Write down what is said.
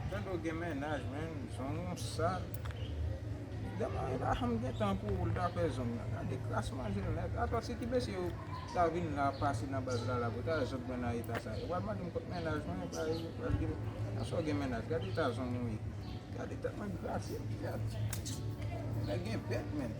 Fedou gen mennaj menn zong ou sal. Demen Abraham gen tan pou ou li ta fè zong nan. Gade kras manjel nèt. Atò se ki mesye yo ta vin la pase nan baz la la pou ta zog mwen nan eta sa. Yo pral mandem kot mennaj mwen epa yo pral dim nan sa w gen mennaj. Gade eta zong ou ye. Gade tèt mwen grate. Nèg gen bèt menn.